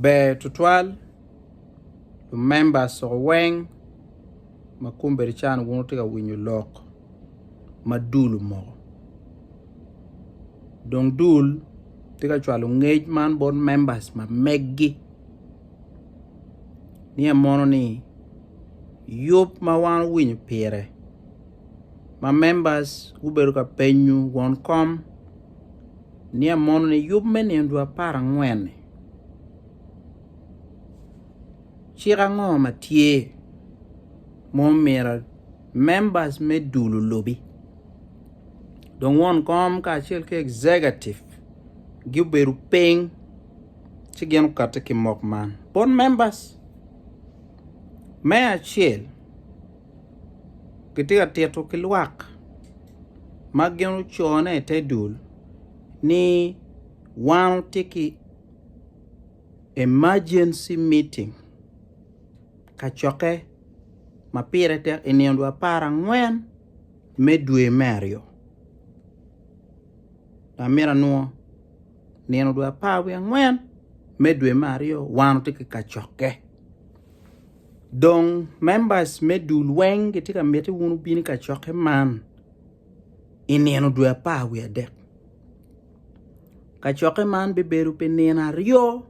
Ber tutwal lumemba coo weng ma kombeddi can wun wutye ka winyo lok ma dul omoko dong dul tye ka cwalo ngec man bot memba ma megi niye mono ni yub ma wan owinyo pire ma membas gubedo ka penyo won kom. Nia mono ni yub me nino dwe apar angwen-ni. Cik ango ma tye ma omyero members me dul olubi? Dong won kom kacel ki executive gubedo piny ci gin okatte ki mok man bot members. Me acel, gitye ka tito ki lwak ma gin ocone i te dul ni wan watye ki emergency meeting kacokke ma pire tek i nino dwe apar angwen me dwe me aryo dok myero anwo nino dwe apar wiye angwen me dwe me aryo wan watye ki kacokke. Dong members me dul weng gitye ka miti wun wubin i kacokke man i nino dwe apar wiye adek. Kacokke man bibedo pi nino aryo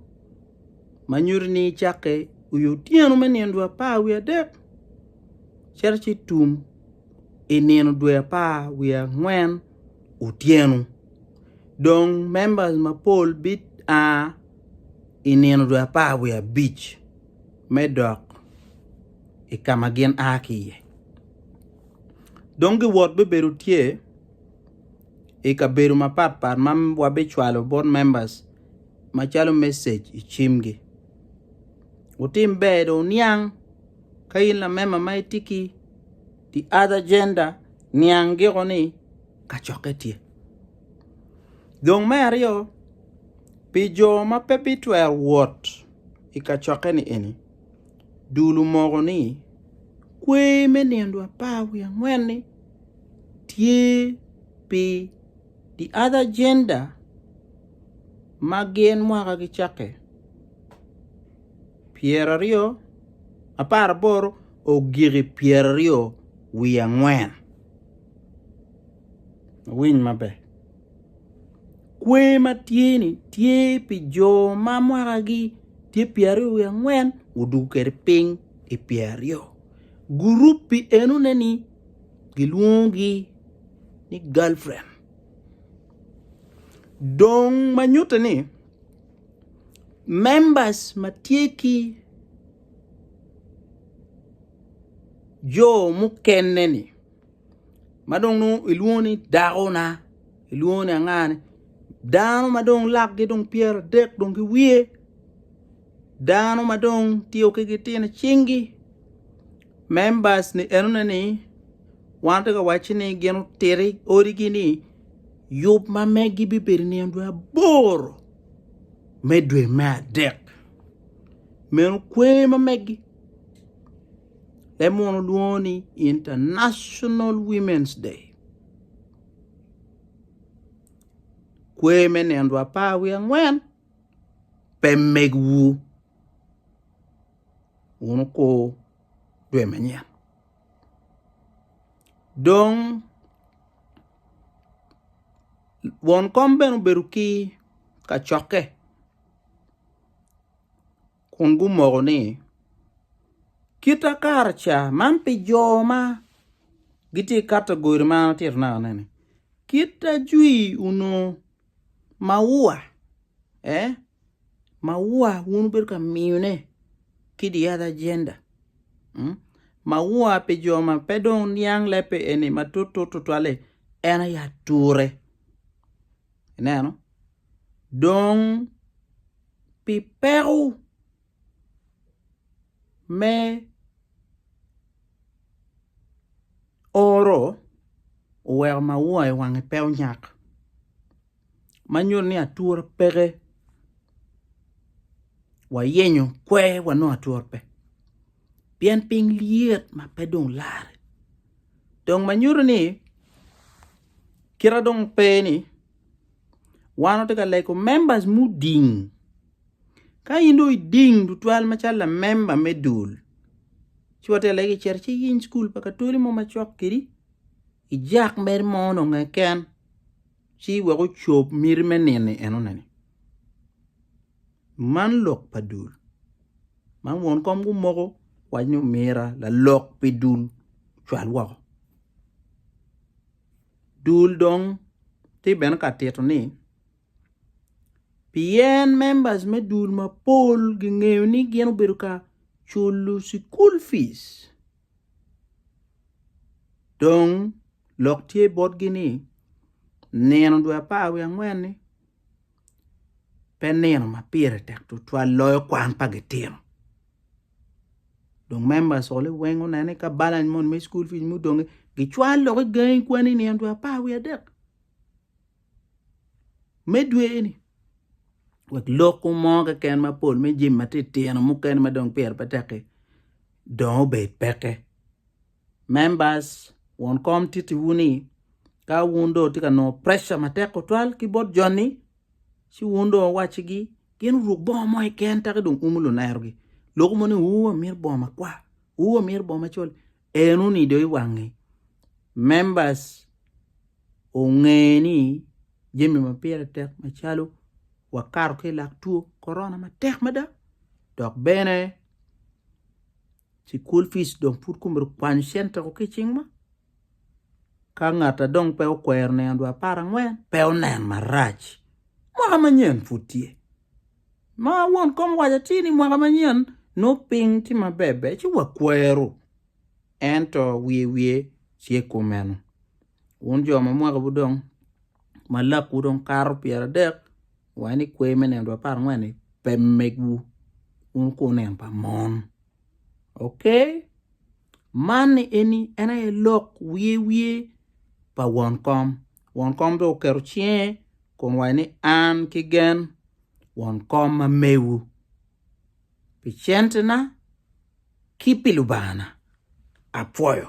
ma nyuto ni icakke i otyeno me nino dwe apar wiye adek cito ci tum i nino dwe apar wiye angwen otyeno. Dong members mapol bia i nino dwe apar wiye abic. me dok i ka ma gin a ki iye. Dong giwot bibedo tye i kabedo mapatpat ma wabicwalo bot members macalo message i cimgi. Wutim ber dong wuniang ka in lamemba ma itye ki the other gender niang giko ni kacokke tye. Dong me aryo, pi jo ma pe bitwero wot I kacokke-ni eni, dul omoko ni kwer me nino apar wiye angwen-ni tye pi The Other Gender ma gin mwaka gicakke pyeraryo apar aboro ogiki pyeraryo wiye angwen. Wuwiny maber. Kwer ma tye-ni tye pi jo ma mwakagi tye pyeraryo wiye angwen gudwogo kwede piny i pyeraryo. Gurup pi enone-ni gilwongogi ni galfren. Dong ma nyutte ni members ma tye ki jo mukene-ni, ma dong nongo ilwongo ni dakona ilwongo ni anga ni dano ma dong lakgi dong pyeradek dong ki wiye dano ma dong tiyo ki gitino cingi members ni enone ni wan atye ka wacci ni gin otiti odigi ni yub ma megi bibedo nino dwe aboro me dwe me adek meno kwer ma megi Leb muno lwongo ni International Women's Day. Kwer me nino dwe apar wiye angwen pe megwu wun wukur dwe manyen. Dong won kom bene obedo ki kacokke. kun gumoko ni, Kita kare ca man pi jo ma gitye ka kato godi ma an atito naka-ni, kit ajwi onongo maua, ee, maua wun wubedo ka miyone ki the other gender, maua pi jo ma pe dong niang lebbe eni matut tutwal-li en aye ature. Ineno? dong pi peko me oro oweko maua i wange pe onyak ma nyuto ni atura peke wayenyo kwer wanongo atura pe pien piny lyet ma pe dong larre dong ma nyuto ni kite dong pe ni. Wan watye ka lego members muding. Ka in dong iding tutwal macalo lamemba me dul, ci watye ka legi icito ci iyiny cukul pa katoli mo macok kedi, ijak mere mo dong keken ci wek ocob miti me nino enoneni. Man lok pa dul ma won kom gumoko wac ni omira lalok pi dul ocwal woko. Dul dong tye bene ka tito ni, Pien members me dul mapol gingeyo ni gin obedo ka culo cukul fic, dong lok tye botgi ni nino dwe apar wiye angwen-ni. pe nino ma pire tek tutwal loyo kwan pa gitino. Dong members oli weng onene ka balance mon me school fees mudonge gicwal lok igangi kwani nino dwe apar wiye adek me dwe eni wek lok mo keken mapol me jim matitino mukene ma dong pire pe tek-ki dong obed peke. Members, won kom titi wu ni ka wun dong wutye ka nongo preca matek tutwal ki bot joni, ci wun dong wuwaccigi gin guruk bongo mo keken taki dong umu lunerogi. Lok mo ni wu wamito bongo makwar, wu wamito bongo macol, en onido i wangi. Members onge ni jami ma pire tek macalo wakato ki lak two korona matek mada dok bene ci kul fic dong pud kumito kwanyo centeko ki cing ma ka ngata dong pe okwero nino dwa apar angwen pe onen marac mwaka manyen pud tye ma won kom waco ci ni mwaka manyen nongo ping tye maber ber ci wa kwero ento wiye wiye tye kumeno wun jo ma mwaka wu dong ma lak wu dong kato pyera dek Wa ni kwer me nino apar angwen ni pe megwu wun ku nino pa mon. Ok? Man ni eni en aye lok wiye wiye pa won kom. Won kom do oketo cinge kun waye ni an ki gen won kom ma mewu pi centena ki pi Lubanga-na. Apwoyo.